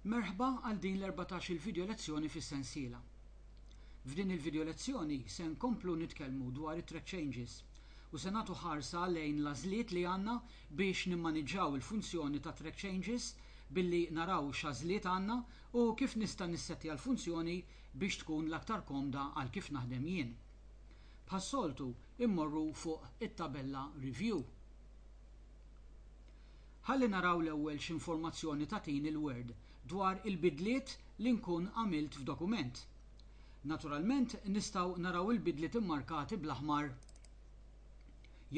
Merħba għal din l-erbatax-il video lezzjoni fis-sensiela. F'din il-video lezzjoni se nkomplu nitkellmu dwar it-threat changes u se nagħtu ħarsa lejn l-għażliet li għandna biex nimmaniġġaw il-funzjoni ta' threat changes billi naraw x'għażliet għandna u kif nista' nissettja l-funzjoni biex tkun l-aktar komda għal kif naħdem jien. Bħas-soltu immorru fuq it-tabella review. Ħalli naraw l-ewwel x'informazzjoni tagħtini l-Word dwar il-bidliet li nkun għamilt f'dokument. Naturalment nistgħu naraw il-bidliet immarkati bl-aħmar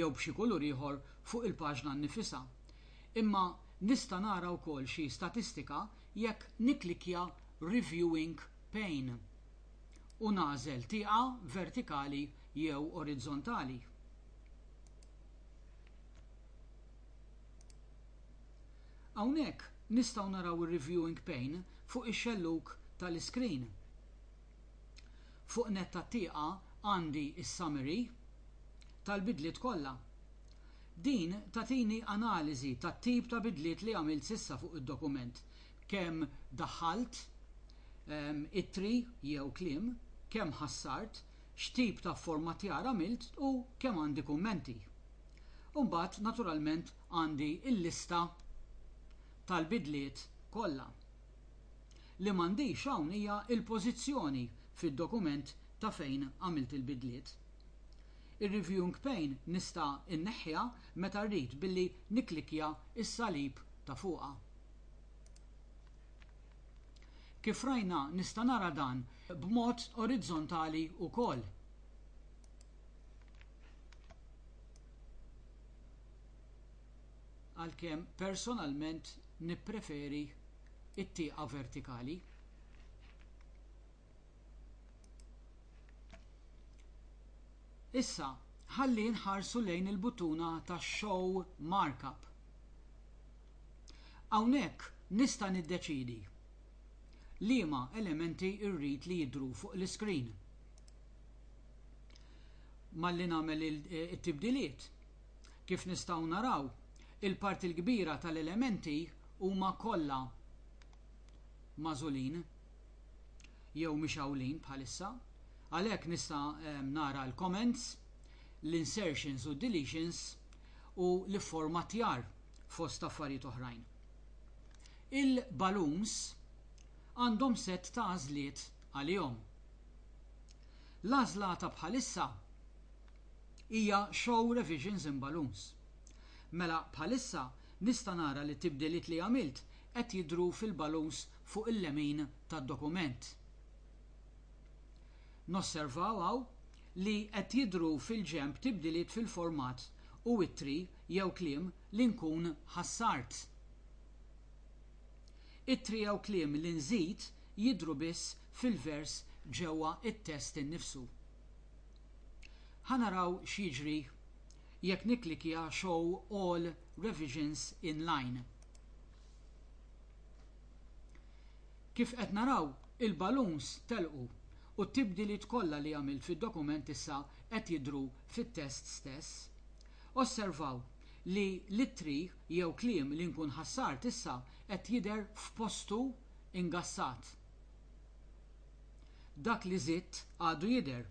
jew b'xi kulur ieħor fuq il-paġna nnifisha. Imma nista' nara wkoll xi statistika jekk nikklikkja Reviewing pane u nagħżel tieqa vertikali jew orizzontali. Hawnhekk nistgħu naraw ir-reviewing pane fuq ix-xellug ta' l-iskrin. Fuq nett tat-tieqa għandi s-summary tal-bidliet kollha. Din tagħtini analiżi tat-tip ta' bidliet li għamilt s'issa fuq id-dokument, kemm daħħalt ittri jew kliem, kemm ħassart, x'tip ta' fformattjar għamilt u kemm għandi kummenti. U mbagħad naturalment għandi l-lista tal-bidliet kollha. Li m'għandix hawn hija l-pożizzjoni fid-dokument ta' fejn għamilt il-bidliet. Ir-reviewing pane nista' nneħħiha meta rrid billi nikklikkja s-salib ta' fuqha. Kif rajna nista' nara dan b'mod orizzontali wkoll. għalkemm personalment nippreferi t-tieqa vertikali. Issa, ħalli nħarsu lejn il-buttuna ta' Show Markup. Hawnhekk nista' niddeċiedi liema elementi rrid li jidhru fuq l-iskrin. malli nagħmel it-tibdiliet. Kif nistgħu naraw, il-parti l-kbira tal-elementi huma kollha magħżulin jew mixgħulin bħalissa, għalhekk nista' nara l-comments, l-insertions u d-deletions u l-ifformattjar fost affarijiet oħrajn. Il-balloons għandhom sett ta' għażliet għalihom. L-għażla ta' bħalissa hija show revisions in balloons. Mela bħalissa nista' nara li t-tibdiliet li għamilt qed jidhru fil-balloons fuq il-lemin tad-dokument. Nosservaw hawn li qed jidhru fil-ġenb tibdiliet fil-format u ittri jew kliem li nkun ħassart. Ittri jew kliem li nżid jidhru biss fil-vers ġewwa t-test innifsu. Ħa naraw x'jiġri jekk nikklikja Show all revisions in line. Kif qed naraw, il-balloons telqu u t-tibdiliet kollha li għamilt fid-dokument issa qed jidhru fit-test stess. Osservaw! li l-ittri jew kliem li nkun ħassart issa qed jidher f'postu ingassat. Dak li żidt għadu jidher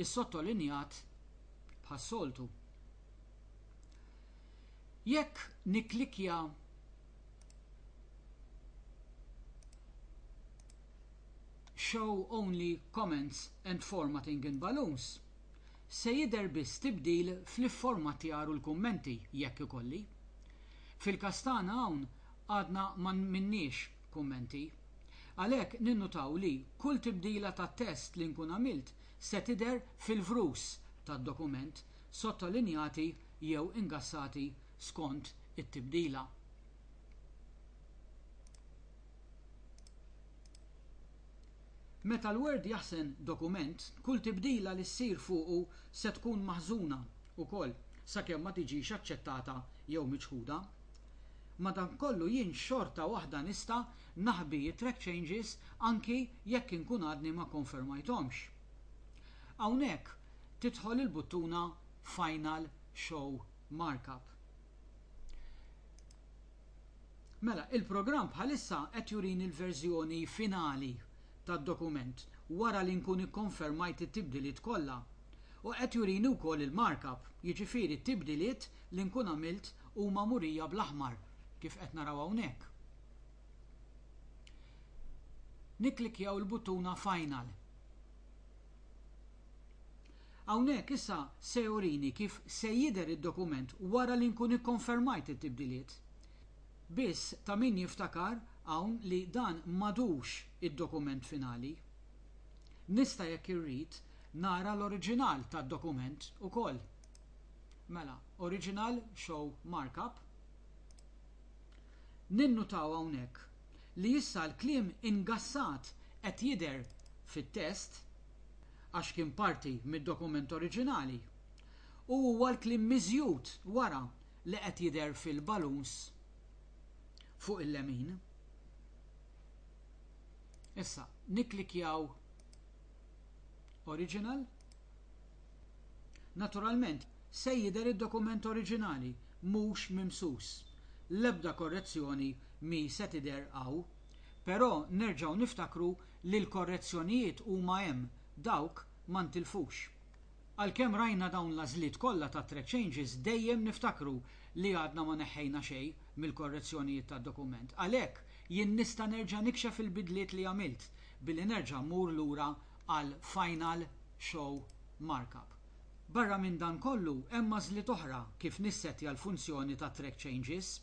issottolinjat bħas-soltu. Jekk nikklikkja Show only comments and formatting in balloons, Se jidher biss tibdil fl-ifformattjar u l-kummenti, jekk ikolli. Fil-każ tagħna hawn għadna ma minniex kummenti. Għalhekk ninnutaw li kull tibdila ta' test li nkun għamilt se tidher fil-vrus tad-dokument, sottolinjati jew ingassati skont it-tibdila. Meta l-Word jaħżen dokument, kull tibdila li ssir fuqu se tkun maħżuna wkoll sakemm ma tiġix aċċettata jew miċħuda. Madankollu jien xorta waħda nista' naħbi t-track changes anki jekk inkun għadni ma kkonfermajthomx. Hawnhekk tidħol il-buttuna Final Show Markup. Mela, il-programm bħalissa qed jurini l-verżjoni finali tad-dokument wara li nkun ikkonfermajt it-tibdiliet kollha u qed jurini wkoll il-markup, jiġifieri t-tibdiliet li nkun għamilt huma murija bl-aħmar kif qed naraw hawnhekk. Nikklikkjaw il-buttuna Final. Hawnhekk issa se jurini kif se jidher id-dokument wara li nkun ikkonfermajt it-tibdiliet. Biss ta' min jiftakar hawn li dan m'għadux id-dokument finali. Nista' jekk irrid nara l-oriġinal tad-dokument ukoll. Mela, original show markup. Ninnutaw hawnhekk li issa l-kliem ingassat qed jidher fit-test, għax kien parti mid-dokument oriġinali, u huwa l-kliem miżjud wara li qed jidher fil-baluns fuq il-lemin. Issa, nikklikkjaw Original. Naturalment, se jidher id-dokument oriġinali mhux mimsus. L-ebda korrezzjoni mhi se tidher hawn. Però nerġgħu niftakru li l-korrezzjonijiet huma hemm, dawk ma ntilfux. Għalkemm rajna dawn l-għażliet kollha ta' Track Changes dejjem niftakru li għadna ma neħħejna xejn mill-korrezzjonijiet tad-dokument. Għalhekk, jien nista' nerġa' nikxef il-bidliet li għamilt billi nerġa' mmur lura għal Final Show Markup. Barra minn dan kollu, hemm għażliet oħra kif nissettja l-funzjoni ta' Track Changes,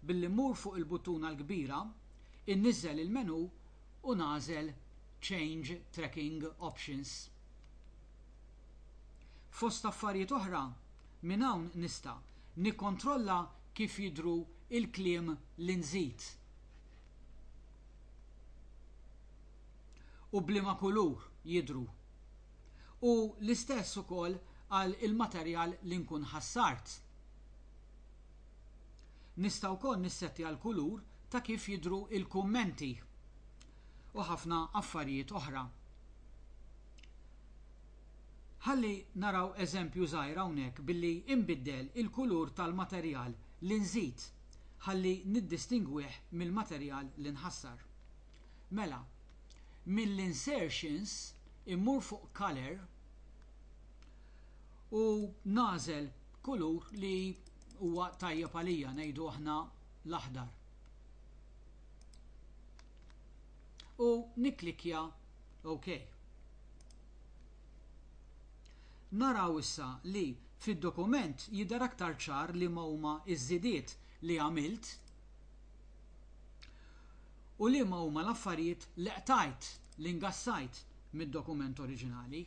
billi mmur fuq il-buttuna l-kbira, inniżżel il-menu u nagħżel Change Tracking Options. Fost affarijiet oħra, minn hawn nista' nikkontrolla kif jidhru l-kliem li nżid. u b'liema kulur jidhru. U l-istess ukoll għal il-materjal li nkun ħassart. Nista' wkoll nissettja l-kulur ta' kif jidhru il-kummenti u ħafna affarijiet oħra. Ħalli naraw eżempju żgħir hawnhekk billi inbiddel il-kulur tal-materjal li nżid ħalli niddistingwih mill-materjal li nħassar. Mela, mill-insertions immur fuq color u nagħżel kulur li huwa tajjeb għalija, ngħidu aħna l-aħdar. U nikklikkja OK. Naraw issa li fid-dokument jidher aktar ċar liema huma ż-żidiet li għamilt. u liema huma l-affarijiet li qtajt, li ngassajt, mid-dokument oriġinali.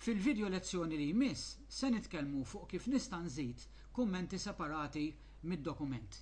Fil-vidjo lezzjoni li jmiss se nitkellmu fuq kif nista' nżid kummenti separati mid-dokument.